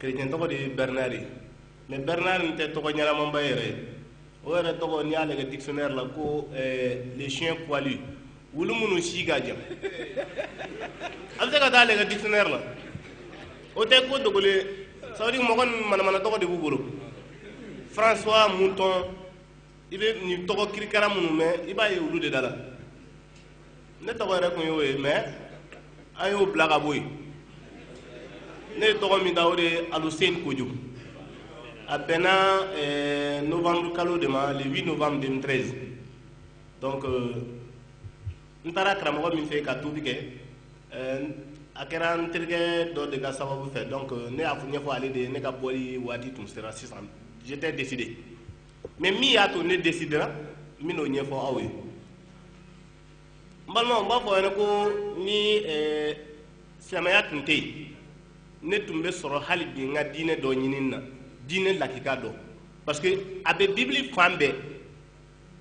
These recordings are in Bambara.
kerecɛn tɔgɔ de ye bernard ye mais bernard nin tɛ tɔgɔ ɲɛnamanba yɛrɛ ye o yɛrɛ tɔgɔ n'i y'a lajɛ dictionnaire la ko les chiens poilus wulu minnu si ka jan a bɛ se ka taa lajɛ dictionnaire la o tɛ ko dogolen ye ça veut dire mɔgɔ ninnu manamana tɔgɔ de b'u bolo françois mouton i bɛ nin tɔgɔ kirikara minnu mɛn i b'a ye olu de da la ne tɔgɔ yɛrɛ tun y'o ye mais an y'o bila ka bɔ yen ne ye tɔgɔ min da o de ye alusen kojo a bɛnna eh, novembre kalo de ma le 8 novembre 2013 donc euh, n taara karamɔgɔ min fɛ ka tuubi kɛ eh, a kɛra n terikɛ dɔ de ka sababu fɛ donc euh, ne y'a ɲɛfɔ ale de ye ne ka bɔli waati tun sera sisan j'étais décidé mais min y'a to ne desidera n bɛn'o ɲɛfɔ aw ye n balimaw n b'a fɔ yɛrɛ ko ni eh, silamɛya tun tɛ yen ne tun bɛ sɔrɔ hali bi n ka diinɛ dɔ ɲinini na diinɛ lakika dɔ parce que a bɛ bibili fan bɛɛ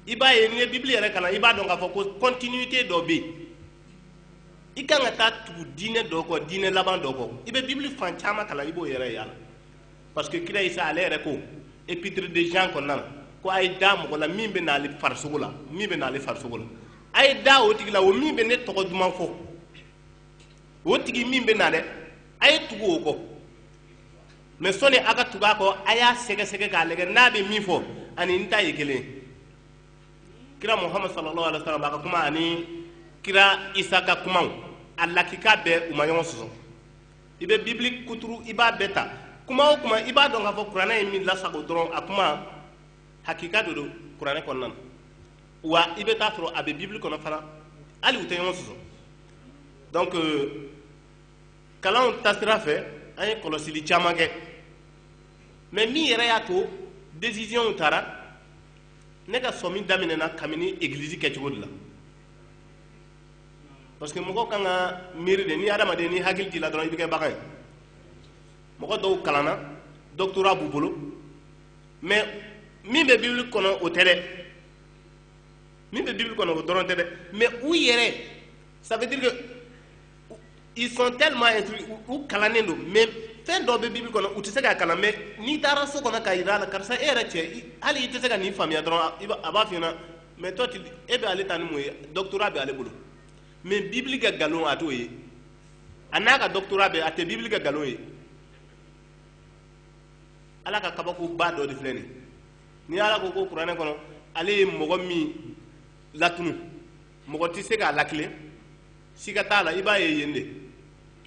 i b'a ye n'i ye bibili yɛrɛ kalan i b'a dɔn k'a fɔ ko continuité dɔ bɛ yen i kan ka taa tugu diinɛ dɔ kɔ diinɛ laban dɔ kɔ i bɛ bibili fan caman kalan i b'o yɛrɛ ye a la parce que kira isa ale yɛrɛ ko épître de jean kɔnɔna na ko a ye da mɔgɔ la min bɛ n'ale farisogo la min bɛ n'ale farisogo la a ye da o tigi la o min bɛ ne tɔgɔ duman fɔ o tigi min bɛ na dɛ a ye tugu o kɔ mais sɔni a ka tugu a kɔ a y'a sɛgɛsɛgɛ k'a lajɛ n'a bɛ min fɔ ani n ta ye kelen ye kira muhamadu sallallahu alaihi wa sallam a ka kuma ani kira isa ka kumaw a lakika bɛɛ u ma ɲɔgɔn sɔsɔ i bɛ bibili kuturu i b'a bɛɛ ta kuma o kuma i b'a dɔn k'a fɔ kuranɛ ye min lasago dɔrɔn a kuma hakika de don kuranɛ kɔnɔna na wa i bɛ t'a sɔrɔ a bɛ bibili kɔnɔ fana hali u tɛ ɲɔgɔn sɔsɔ donc euh, kalanw taasira fɛ an ye kɔlɔsili caman kɛ mais min yɛrɛ y'a to décisionw taara ne ka sɔmi daminɛna kabini egilizi kɛcogo de la parce que mɔgɔ kan ka miiri de ni hadamaden ni hakili t'i la dɔrɔn i bɛ kɛ bagan ye mɔgɔ dɔw kalanna doctorat b'u bolo mais min bɛ bibili kɔnɔ o tɛ dɛ min bɛ bibili kɔnɔ o dɔrɔn tɛ dɛ mais u yɛrɛ ça veut dire que ils sont tellement instruits u kalannen don mais fɛn dɔ bɛ bibili kɔnɔ u tɛ se k'a kalan mais n'i taara so kɔnɔ k'a yira a la karisa e yɛrɛ cɛ hali i tɛ se ka nin faamuya dɔrɔn a b'a f'i ɲɛna mais toi tu e bɛ ale ta ni mun ye doctorat bɛ ale bolo mais bibili ka nkalon a t'o ye a n'a ka doctorat bɛɛ a tɛ bibili ka nkalon ye ala ka kabakoba dɔ de filɛ nin ni ala ko ko kuranɛ kɔnɔ ale ye mɔgɔ min latunu mɔgɔ tɛ se k'a latilen siga t'a la i b'a ye yen de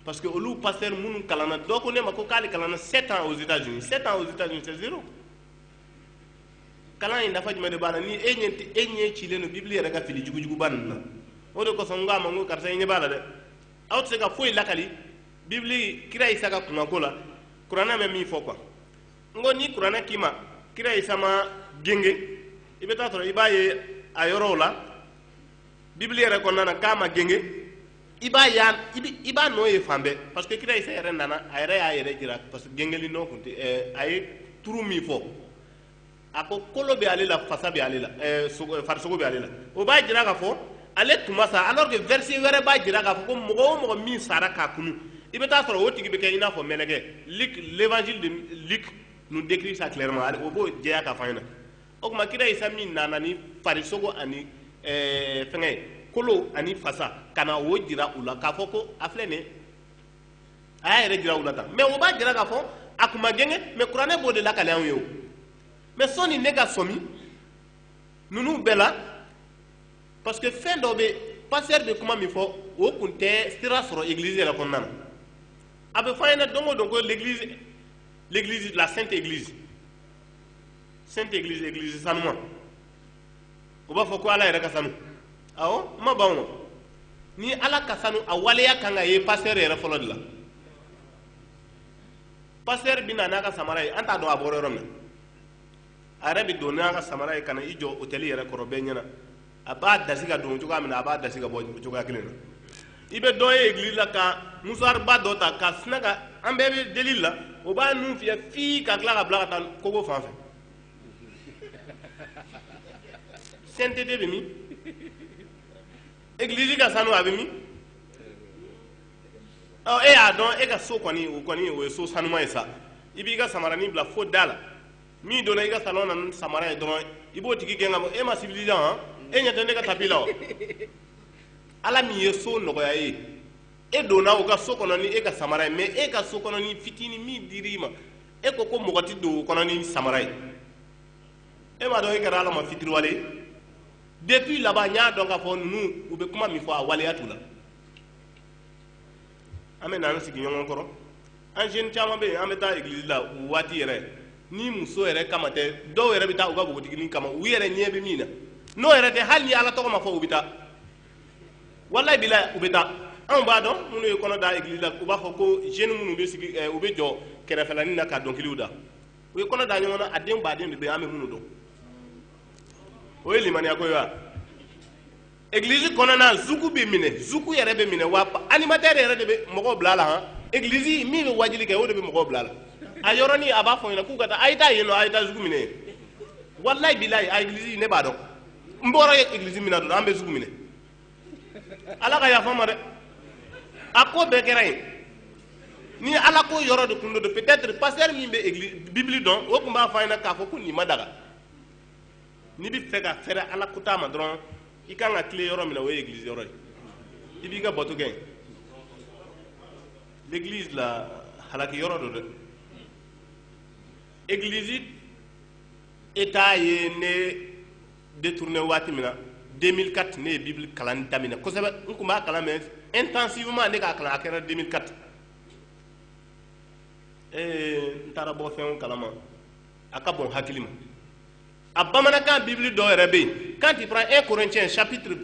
parce que olu pasteur minnu kalanna dɔ ko ne ma ko k'ale kalanna 7 ans aux États-Unis 7 ans aux États-Unis c'est zéro kalan in nafa jumɛn de b'a la ni e ɲɛ e ɲɛ cilen don bibili yɛrɛ ka fili jugujuguba ninnu na o de kosɔn n ko a ma n ko karisa i ɲɛ b'a la dɛ aw tɛ se ka foyi lakali bibili kira isa ka kunkanko la kuranɛ bɛ min fɔ quoi n ko ni kuranɛ k'i ma kira isa ma genge i bɛ taa sɔrɔ i b'a ye a yɔrɔw la bibili yɛrɛ kɔnɔna na k'a ma genge i b'a y'a i b'a nɔ ye fan bɛɛ parce que kira isa yɛrɛ nana a yɛrɛ y'a yɛrɛ jira parce que gengeli nɔ kun tɛ eh, a ye turu min fɔ a ko kolo bɛ ale la fasa bɛ ale la eh, eh, farisogo bɛ ale la o b'a jira k'a fɔ ale tun ma sa alors que verset wɛrɛ b'a jira k'a fɔ ko mɔgɔ o mɔgɔ min sara ka kunu i bɛ taa sɔrɔ o tigi bɛ kɛ i n'a fɔ mɛlɛkɛ Luc l'évangile de Luc nous décrit ça clairement o b'o jɛya k'a fɔ an ɲɛna o tuma kira isa min nana ni farisogo ani eh, fɛngɛ kolo ani fasa ka na o jira u la k'a fɔ ko a filɛ nin a y'a yɛrɛ jira u la tan mais o b'a jira k'a fɔ a kun ma genge mais kuranɛ b'o de lakali anw ye o mais sani ne ka sɔmi ninnu bɛɛ la parce que fɛn dɔ bɛ pasteur bɛ kuma min fɔ o kun tɛ sira sɔrɔ église yɛrɛ kɔnɔna na a bɛ fɔ an ɲɛna don o don ko l'église l'église la sainte église sainte église église sanuma u b'a fɔ ko ala yɛrɛ ka sanu awɔ n ma ban o ni ala ka sanu a waleya kan ka ye pasteur yɛrɛ fɔlɔ de la pasteur bɛ na n'a ka samara ye an t'a dɔn a bɔra yɔrɔ min a yɛrɛ bɛ don n'a ka samara ye ka na i jɔ autel yɛrɛ kɔrɔ bɛɛ ɲɛna a b'a dasi ka don cogoya min na a b'a dasi ka bɔ cogoya kelen na i bɛ dɔ ye église la ka musuwariba dɔ ta ka sin a kan an bɛɛ bɛ deli la o b'a nun fiyɛ fii ka tila k'a bila ka taa kogo fan fɛ sainteté bɛ min église ka sanu a bɛ min ɔ e y'a dɔn e ka so kɔni o kɔni o ye so sanuma ye sa i b'i ka samaranin bila fo da la min donna i ka salon na samara ye dɔrɔn i b'o tigi gɛn ka bɔ e ma civilisé han e ɲɛ tɛ ne ka tapi la o ala min ye so nɔgɔya i ye e donna o ka so kɔnɔ ni e ka samara ye mais e ka so kɔnɔnin fitini min dir'i ma e ko ko mɔgɔ tɛ don o kɔnɔ ni samara ye e m'a dɔn e kɛra ala ma fitiriwale ye depuis là-bas n y'a dɔn k'a fɔ ninnu u bɛ kuma min fɔ a waleya t'u la an bɛ na an sigiɲɔgɔn kɔrɔ an jeunes caman bɛ yen an bɛ taa église la o waati yɛrɛ ni muso yɛrɛ kama tɛ dɔw yɛrɛ bɛ taa u ka npogotiginin kama u yɛrɛ ɲɛ bɛ min na n'o yɛrɛ tɛ hali ni ala tɔgɔ ma fɔ u bɛ taa walayi bila u bɛ taa anw b'a dɔn minnu ye kɔnɔ da église la u b'a fɔ ko jeune minnu bɛ sigi eh, u bɛ jɔ kɛrɛfɛlanin na ka dɔnkiliw da u ye kɔnɔ da ɲɔgɔn na a den baden de bɛ an bɛ minnu dɔn o ye limaniya ko ye wa Eglise kɔnɔna zuku bɛ minɛ zuku yɛrɛ bɛ minɛ wa animateur yɛrɛ de bɛ mɔgɔw bila la han eglise min bɛ wajili kɛ o de bɛ mɔgɔw bila la a yɔrɔni a b'a fɔ i ɲɛna k'u ka taa a ye taa yen nɔ a ye taa zuku minɛ walayi bilayi a eglise ne b'a dɔn n bɔra ye eglise min na dɔrɔn an bɛ zuku minɛ ala ka yafa n ma dɛ a ko bɛɛ kɛra yen ni ala ko yɔrɔ de kun don peut-être pasteur min bɛ bibili dɔn o tun b'a fɔ a ɲɛna k'a fɔ ko nin ma daga n'i b'a fɛ ka fɛrɛ ala kuta ma dɔrɔn i ka kan ka tilen yɔrɔ min na o ye église yɔrɔ ye i b'i ka bato kɛ église la halaki yɔrɔ don dɛ église eta ye ne détourné waati min na 2004 ne ye bibili kalan daminɛ kosɛbɛ n tun b'a kalan mais intensivement ne k'a kalan a kɛra 2004 ee n taara bɔ fɛnw kalama a ka bon hakili ma a bamanankan bibili dɔ yɛrɛ bɛ yen quand tu prends 1 corinthiens chapitre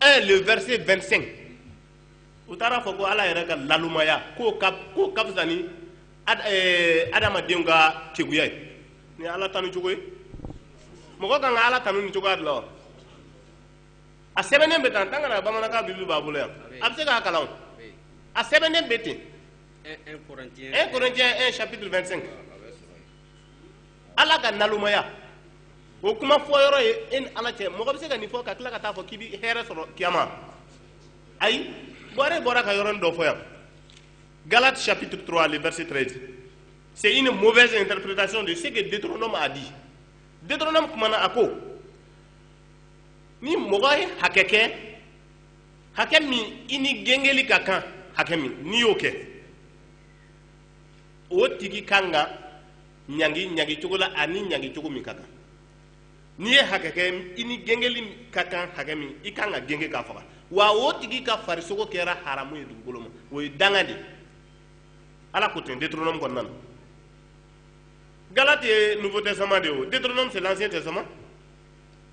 1 le verset 25 u taara fɔ ko ala yɛrɛ ka nalomaya k'o ka k'o ka fisa ni ad, eh, adamadenw ka keguya ye nin ye ala tanu cogo ye mɔgɔ kan ka ala tanu nin cogoya de la wa a sɛbɛnnen bɛ tan tangara bamanankan bibili b'a bolo yan a bɛ se k'a kalan o a sɛbɛnnen bɛ ten 1 Corinthiens 1 chapitre 25 ala ka nalomaya o kuma fɔ yɔrɔ ye e ni ala cɛ mɔgɔ bɛ se ka nin fɔ ka tila ka taa fɔ k'i bɛ hɛrɛ sɔrɔ kiyama ayi bɔre bɔra ka yɔrɔnin dɔ fɔ yan Galates chapitre 3 le verset 13 c'est une mauvaise interprétation de ce que Deutéronome a dit Deutéronome kumana a ko ni mɔgɔ ye hakɛ kɛ hakɛ min i ni gengeli ka kan hakɛ min n'i y'o kɛ o tigi kan ka ɲangi ɲangi cogo la ani ɲangi cogo min ka kan n'i ye hakɛ kɛ i ni gengeli ka kan hakɛ min i kan ka genge k'a faga wa o tigi ka farisogo kɛra haramu ye dugukolo ma o ye danga de ye ala ko ten Deutéronome kɔnɔna na Galates ye nouveau testament de ye o Deutéronome c'est l'ancien testament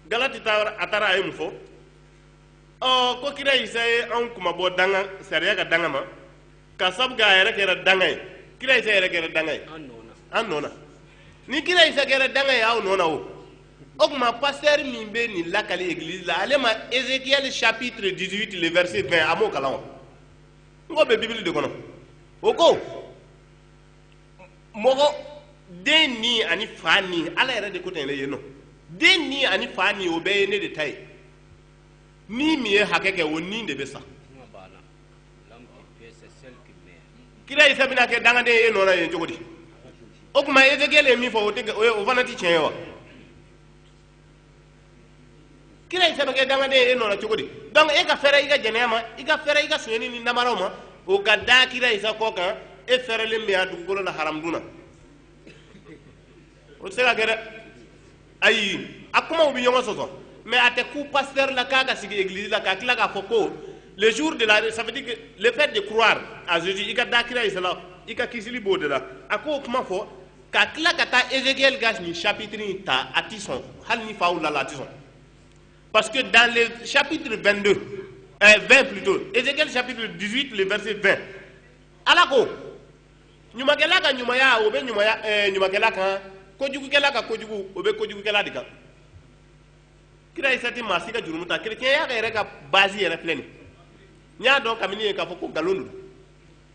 Galates a taara a ye mun fɔ ɔ ko kira isa ye anw kunmabɔ danga sariya ka danga ma ka sabu a yɛrɛ kɛra danga ye kira isa yɛrɛ kɛra danga ye an nɔ na ni kira isa kɛra danga ye aw nɔ na o o tuma pasteur min bɛ nin lakali église la ale ma Ézéchiel chapitre 18 le verset 20 a m'o kalan o n k'o bɛ bibili de kɔnɔ o ko mɔgɔ den ni ani fa ni ala yɛrɛ de ko ten yɛrɛ ye nɔ den ni ani fa ni o bɛɛ ye ne de ta ye ni min ye hakɛ kɛ o ni de bɛ sa kira isa bɛna kɛ dangaden ye e nɔ la yen cogo di o tuma ezekiel ye min fɔ o tɛ o ye o fana tɛ tiɲɛ ye wa kira isa bɛ kɛ dangaden ye e nɔ na cogo di donc e ka fɛrɛ i ka jɛnɛya ma i ka fɛrɛ i ka sonyɛni ni namaraw ma o ka da kira isa kɔ kan e fɛrɛlen bɛ yan dugukolo la haramudun na o tɛ se ka kɛ dɛ ayi a kumaw bɛ ɲɔgɔn sɔsɔ mais a tɛ kun pasteur la k'a ka sigi église la ka tila k'a fɔ ko le jour de la ça veut dire que le fait de croire à Jésus i ka da kira Isa la i ka kisili b'o de la a k'o kuma fɔ ka tila ka taa Ézéchiel ka nin chapitre in ta a tɛ sɔn hali ni faw la la a tɛ sɔn parce que dans le chapitre 22 euh, 20 plutôt Ézéchiel chapitre 18 le verset 20 ala ko ɲumankɛla ka ɲumaya o bɛ ɲumaya ɛɛ eh, ɲumankɛla kan kojugukɛla ka kojugu o bɛ kojugukɛla de kan kira isa tɛ maa si ka jurumu ta kerecɛnya yɛrɛ ka base yɛrɛ filɛ nin n y'a dɔn kabini yen k'a fɔ ko nkalon don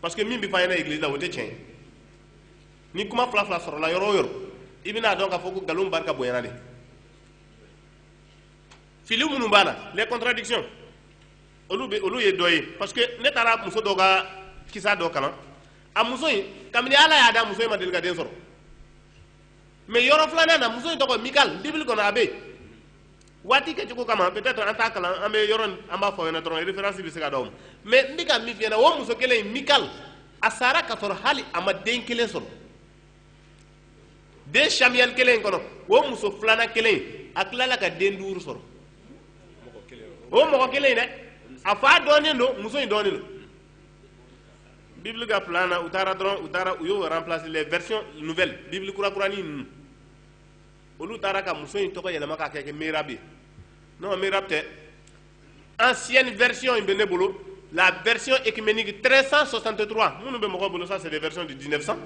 parce que min bɛ fɔ an ɲɛna église la o tɛ tiɲɛ ye ni kuma fila fila sɔrɔla yɔrɔ o yɔrɔ i bɛna a dɔn k'a fɔ ko nkalon barika bonyana de fili minnu b'a la les contradictions olu bɛ olu ye dɔ ye parce que ne taara muso dɔ ka kisa dɔ kalan a muso in kabini ala y'a da muso in ma deli ka den sɔrɔ mais yɔrɔ filanan na muso in tɔgɔ mikal bible kɔnɔ a bɛ yen waati kɛcogo kama peut-être an t'a kalan an bɛ yɔrɔ in an b'a fɔ aw ɲɛna dɔrɔn référence bɛ se ka d'aw ma mais n bɛ ka min f'i ɲɛna o muso kelen in mikal a sara ka sɔrɔ hali a ma den kelen sɔrɔ deux Samuel kelen in kɔnɔ o muso filanan kelen in a tilala ka den duuru sɔrɔ o mɔgɔ kelen in dɛ a fa dɔnnen don muso in dɔnnen don bible ka plan na u taara dɔrɔn u taara u y'o remplacer les versions nouvelles bible kurakurani ninnu olu taara ka muso in tɔgɔ yɛlɛma k'a kɛ merab ye non merab tɛ ancienne version in bɛ ne bolo la version œcuménique 1363 minnu bɛ mɔgɔw bolo ça c'est des versions de 1900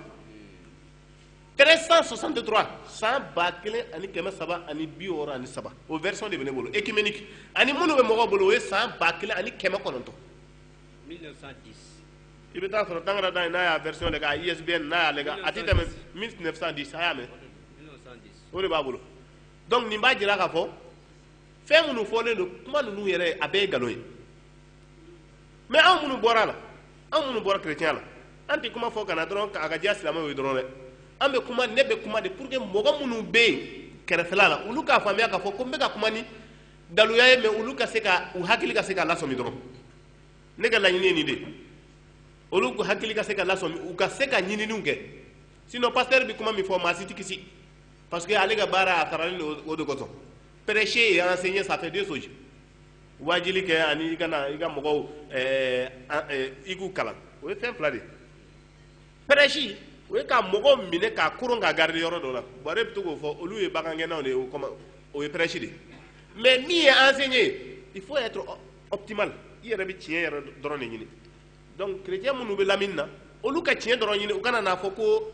1363 san ba kelen ani kɛmɛ saba ani bi wɔɔrɔ ani saba o version de bɛ ne bolo œcuménique ani minnu bɛ mɔgɔw bolo o ye san ba kelen ani kɛmɛ kɔnɔntɔn 1910 i bɛ taa sɔrɔ tangara ta in n'a y'a version lajɛ a ISBN n'a y'a lajɛ a tɛ tɛmɛ 1910 a y'a mɛn 1910 o de b'a bolo donc nin b'a jira k'a fɔ fɛn minnu fɔlen don kuma ninnu yɛrɛ a bɛɛ ye nkalon ye mais anw minnu bɔra a la anw minnu bɔra kerecɛnya la an tɛ kuma fɔ ka na dɔrɔn k'a ka diya silamɛw ye dɔrɔn dɛ an bɛ kuma ne bɛ kuma de pour que mɔgɔ minnu bɛ yen kɛrɛfɛla la olu k'a faamuya k'a fɔ ko n bɛ ka kuma ni daluya ye mais olu ka se ka u hakili ka se ka lasɔmi dɔrɔn ne ka laɲini ye nin de olu hakili ka se ka lasɔmi u ka se ka ɲininiw kɛ sinon pasteur bɛ kuma min fɔ maa si tɛ kisi parce que ale ka baara a saralen don o de kosɔn prêcher et enseigner ça fait deux choses wajili kɛ ani i ka na i ka mɔgɔw ɛɛ ɛɛ i k'u kalan o ye fɛn fila de ye prêcher o ye ka mɔgɔw minɛ k'a koron k'a garder yɔrɔ dɔ la bɔrɛ bɛ to k'o fɔ olu ye bagangɛnnaw de ye o kɔma o ye prêcher de ye mais min ye enseigner ye il faut être optimal i yɛrɛ bɛ tiɲɛ yɛrɛ dɔrɔn de ɲini donc chrétien minnu bɛ lamini na olu ka tiɲɛ dɔrɔn ɲini u kana n'a fɔ ko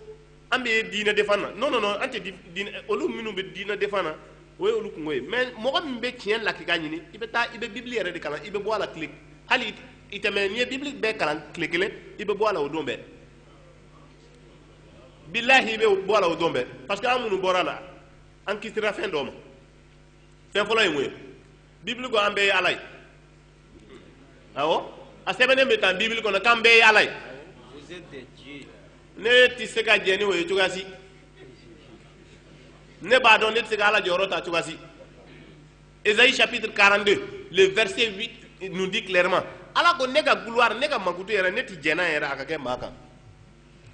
an bɛ diinɛ défendre na non non non an tɛ diinɛ olu minnu bɛ diinɛ défendre na o ye olu kunko ye mais mɔgɔ min bɛ tiɲɛ lakika ɲini i bɛ taa i bɛ bibili yɛrɛ de kalan i bɛ bɔ a la tile hali i tɛmɛ n'i ye bibili bɛɛ kalan tile kelen i bɛ bɔ a la o don bɛɛ bilahi i bɛ bɔ a la o don bɛɛ parce que an minnu bɔra a la an kisira fɛn dɔ ma fɛn fɔlɔ ye mun ye bibili ko an bɛɛ ye ala ye awɔ a sɛbɛnnen bɛ tan bibili kɔnɔ k'an bɛɛ ye ala ye ne tɛ se ka jɛ ni o ye cogoya si ne b'a dɔn ne tɛ se ka ala jɔyɔrɔ ta cogoya si Ésaïe chapitre 42 le verset 8 nous dit clairement ala ko ne ka gloire ne ka mankutu yɛrɛ ne tɛ jɛ n'a yɛrɛ a ka kɛ maa kan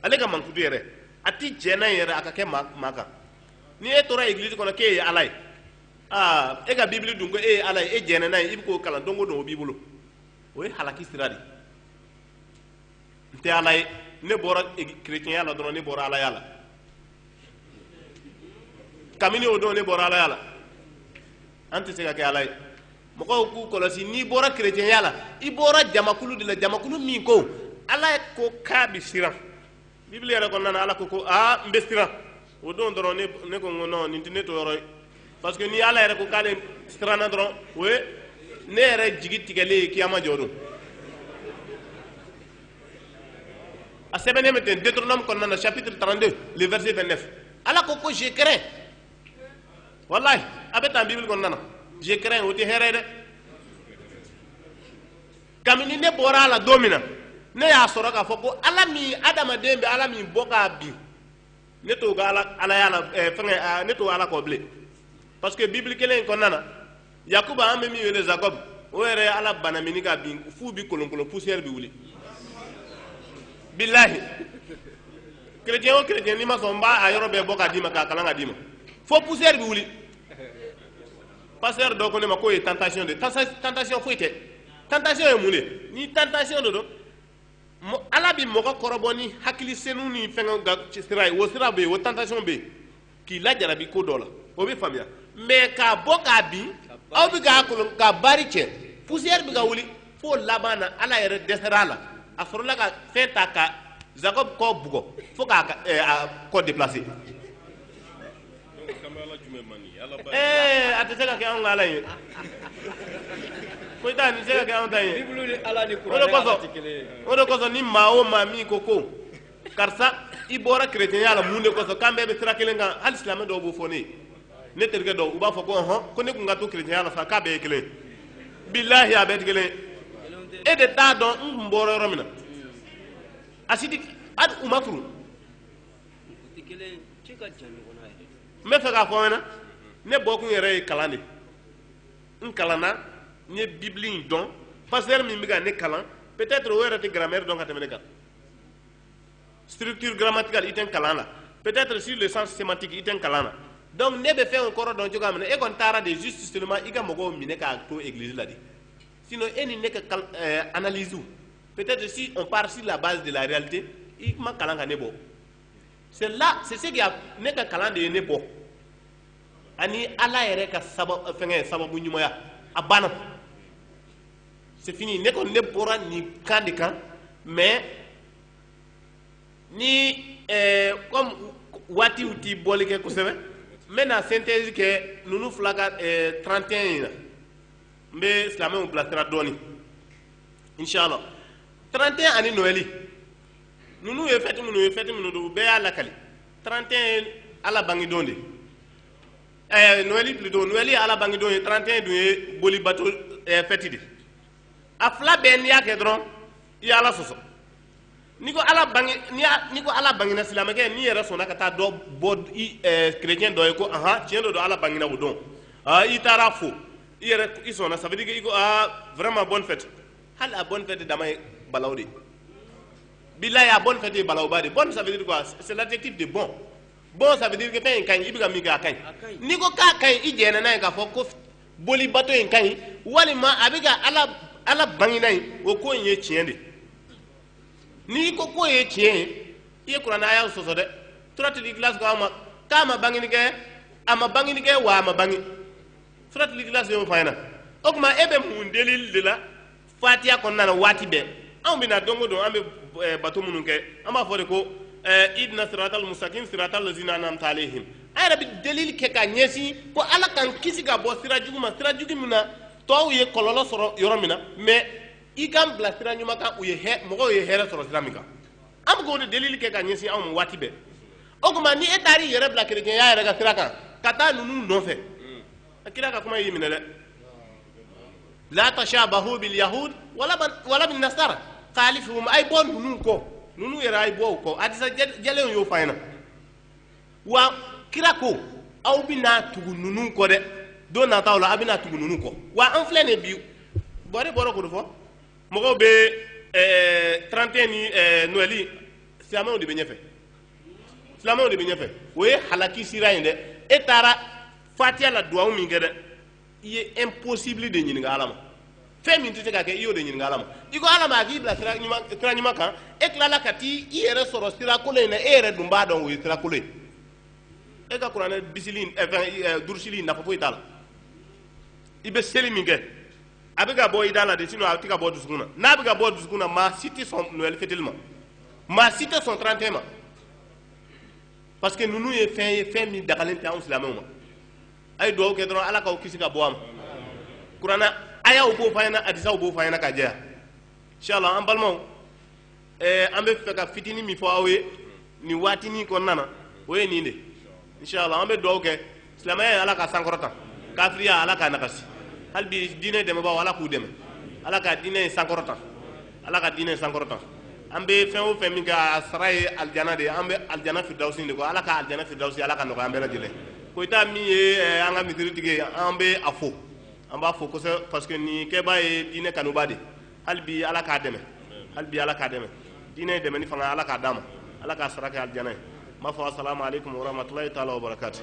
ale ka mankutu yɛrɛ a tɛ jɛ n'a yɛrɛ a ka kɛ maa kan n'i e tora église kɔnɔ k'e ye ala ye aa e ka bibili dun ko e ye ala ye e jɛnna n'a ye i bɛ k'o kalan don o don o b'i bolo o ye halaki sira de n tɛ ala ye ne bɔra kerecɛnya la dɔrɔn ne bɔra alaya la kabini o don ne bɔra alaya la an tɛ se ka kɛ ala ye mɔgɔw k'u kɔlɔsi n'i bɔra kerecɛnya la i bɔra jamakulu de la jamakulu min ko ala ko k'a bɛ siran bibili yɛrɛ kɔnɔna na ala ko ko aa n bɛ siran o don dɔrɔn ne ko n ko non nin tɛ ne toyɔrɔ ye parce que ni ala yɛrɛ ko k'ale siranna dɔrɔn o ye ne yɛrɛ jigi tigɛlen ye kiyama jɔ don a sɛbɛnnen bɛ ten Deutéronome kɔnɔna na chapitre 32 le verset 29 ala ko ko je crains walayi a bɛ tan bibili kɔnɔna na je crains o tɛ hɛrɛ ye dɛ kabini ne bɔra a la don min na ne y'a sɔrɔ k'a fɔ ko ala min adamaden bɛ ala min bɔ k'a bin ne t'o ka ala alaya la ɛɛ fɛngɛ ɛɛ ne t'o ala kɔ bilen parce que bibili kelen in kɔnɔna na yakuba an bɛ min wele Jacob o yɛrɛ ye ala balamini k'a bin f'u bi kolonkolon poussière bi wuli bilahi chrétien o chrétien n'i ma sɔn n b'a a yɔrɔ bɛɛ bɔ k'a d'i ma k'a kalan ka d'i ma fo poussière bi wuli pasteur dɔ ko ne ma k'o ye tentation de ye tentation foyi tɛ tentation ye mun de ye ni tentation de don ala bɛ mɔgɔ kɔrɔbɔ ni hakili senu ni fɛngɛw ka sira ye o sira bɛ yen o tentation bɛ yen k'i lajarabi ko dɔ la o bɛ faamuya mais k'a bɔ k'a bin aw bɛ k'a kolon k'a baari cɛ poussière bɛ ka wuli fo laban na ala yɛrɛ dɛsɛra a la a sɔrɔla ka fɛn ta ka Jacob kɔ bugɔ fo k'a ka ɛɛ a kɔ déplacer a tɛ se ka kɛ anw ka ala ye ko i ta se ka kɛ anw ta ye o de kosɔn ni maa o maa min ko ko karisa i bɔra kerecɛnya la mun de kosɔn k'an bɛɛ bɛ sira kelen kan hali silamɛ dɔw b'o fɔ ne ne terikɛ dɔw u b'a fɔ ko ɔhɔn ko ne tun ka to kerecɛnya la sa k'a bɛɛ ye kelen bilahi a bɛɛ tɛ kelen e de t'a dɔn n tun bɔra yɔrɔ min na a si tɛ hali u ma turu n bɛ fɛ k'a fɔ aw ɲɛna ne bɔkun yɛrɛ ye kalan de n kalanna n ye bibili in dɔn pasteur min bɛ ka ne kalan peut-être o yɛrɛ tɛ grammaire dɔn ka tɛmɛ ne kan structure grammaticale i tɛ n kalan na peut-être sur le sens sémantique i tɛ n kalan na donc ne bɛ fɛn o kɔrɔ dɔn cogoya min na e kɔni taara de juste seulement i ka mɔgɔw minɛ k'a to église la de Sinon, e ni ne ka euh, analyse. Peut-être si on part sur la base de la réalité, i ma kalan ka ne bɔ. C'est là, c'est ce qu'il y a ne ka kalan de ye ne bɔ. Ani ala yɛrɛ ka euh, fɛngɛ sababu ɲumanya a banna c'est fini ne kɔni ne bɔra nin kan de kan mais ni euh, comme waatiw ti boli kɛ kosɛbɛ n bɛna synthèse kɛ ninnu fila kan 31 in na n bɛ silamɛw bilasira dɔɔnin inshallah 31 ani noɛli ninnu ye fɛti minnu ye fɛti minnu don u bɛɛ y'a lakali 31 ye ala bangedon de ɛɛ eh, noɛli plutôt noɛli ye ala bangedon ye 31 dun ye bolibato ɛɛ eh, fɛti de a fila bɛɛ n'i y'a kɛ dɔrɔn i ye ala sɔsɔ ni ko ala bange ni a- ni ko ala bangena silamɛkɛ n'i yɛrɛ sɔnna ka taa dɔ bɔ i ɛɛ kerecɛn dɔ ye ko ahan tiɲɛ don don ala bangena o don aa i taara fo i yɛrɛ i sɔnna ça veut dire que i ko aa vraiment bonne fête hali a bonne fête dama ye balaw de bilahi a bonne fête ye balawba de bonne ça veut dire quoi c'est l'adjectif de bon bon ça veut dire que fɛn in ka ɲi i bɛ ka min kɛ a ka ɲi n'i ko k'a ka ɲi i jɛnna n'a ye k'a fɔ ko boli bato in ka ɲi walima a bɛ ka ala ala bangina in o ko in ye tiɲɛ de n'i ko k'o ye tiɲɛ ye i ye kuranɛ aya sɔsɔ dɛ suratul ikhlas ko a ma k'a ma bangini kɛ a ma bangini kɛ wa a ma bangi suratul ikhlas y'o fɔ an ɲɛna o tuma e bɛ mun delili de la fatiya kɔnɔna na waati bɛɛ anw bɛna don o don an bɛ eh, bato minnu kɛ an b'a fɔ de ko eh, idina siratal mustaqim siratal lazina anamta alehim an yɛrɛ bɛ delili kɛ ka ɲɛsin ko ala k'an kisi ka bɔ sira jugu ma sira jugu min na tɔw ye kɔlɔlɔ sɔrɔ yɔrɔ min na mais i k'an bila sira ɲuman kan u ye mɔgɔw ye hɛrɛ sɔrɔ sira min kan an bɛ k'o de delili kɛ ka ɲɛsin anw ma waati bɛɛ o tuma ni e taar'i yɛrɛ bila kerecɛnya yɛrɛ ka sira kan ka taa ninnu nɔfɛ a kira ka kuma y'i minɛ dɛ la tashabahu bil yahud wala wala bin nasara khalifuhum ay bɔ ninnu kɔ ninnu yɛrɛ ay bɔ u kɔ hadisa jɛlenw y'o f'an ɲɛna wa kira ko aw bɛna tugu ninnu kɔ dɛ don nataw la aw bɛna tugu ninnu kɔ wa an filɛ nin bi bɔre bɔra k'o de fɔ mɔgɔw bɛ ɛɛ 31 ni ɛɛ noɛli silamɛw de bɛ ɲɛfɛ silamɛw de bɛ ɲɛfɛ o ye halaki sira in dɛ e taara fatiya la duwawu min kɛ dɛ i ye impossible de ɲininka ala ma fɛn min tɛ se ka kɛ i y'o de ɲininka ala ma i ko ala ma a k'i bila sira ɲuman kan e tilala ka t'i yɛrɛ sɔrɔ sira kolon in na e yɛrɛ dun b'a dɔn o ye sira kolon ye e ka kuranɛ bisili durusili nafa foyi t'a la i bɛ seli min kɛ a bɛ ka bɔ i da la de sinon a tɛ ka bɔ dusukun na n'a bɛ ka bɔ dusukun na maa si tɛ sɔn noɛl fɛtili ma maa si tɛ sɔn 31 ma parce que ninnu ye fɛn ye fɛn min dagalen tɛ anw silamɛw ma a ye dugawu kɛ dɔrɔn ala k'aw kisi ka bɔ a ma kuranɛ ayaw b'o fɔ an ɲɛna hadisaw b'o fɔ an ɲɛna ka jɛya inshallah an balimaw ɛɛ an bɛ fɛ ka fitini min fɔ aw ye nin waatinin kɔnɔna na o ye nin de inshallah an bɛ dugawu kɛ silamɛya ye ala k'a sankɔrɔta kafiriya ala k'a nagasi hali bi diinɛ dɛmɛbaaw ala k'u dɛmɛ ala ka diinɛ in sankɔrɔta ala ka diinɛ sankɔrɔta an bɛ fɛn o fɛn min kɛ a sara ye alijana de ye an bɛ alijana firidawusi de kɔ ala ka alijana firidawusi ala k'a nɔgɔya an bɛɛ lajɛlen koyita min ye eh, an ka misiritigi ye an bɛ a fo an b'a fo kosɛbɛ parce que nin kɛbaa ye diinɛ kanubaa de hali bi ala k'a dɛmɛ hali bi ala k'a dɛmɛ diinɛ dɛmɛni fanga ala k'a d'a ma ala k'a sara kɛ alijana ye n b'a fɔ asalamu aleykum warahmatulahi taala wabarakatu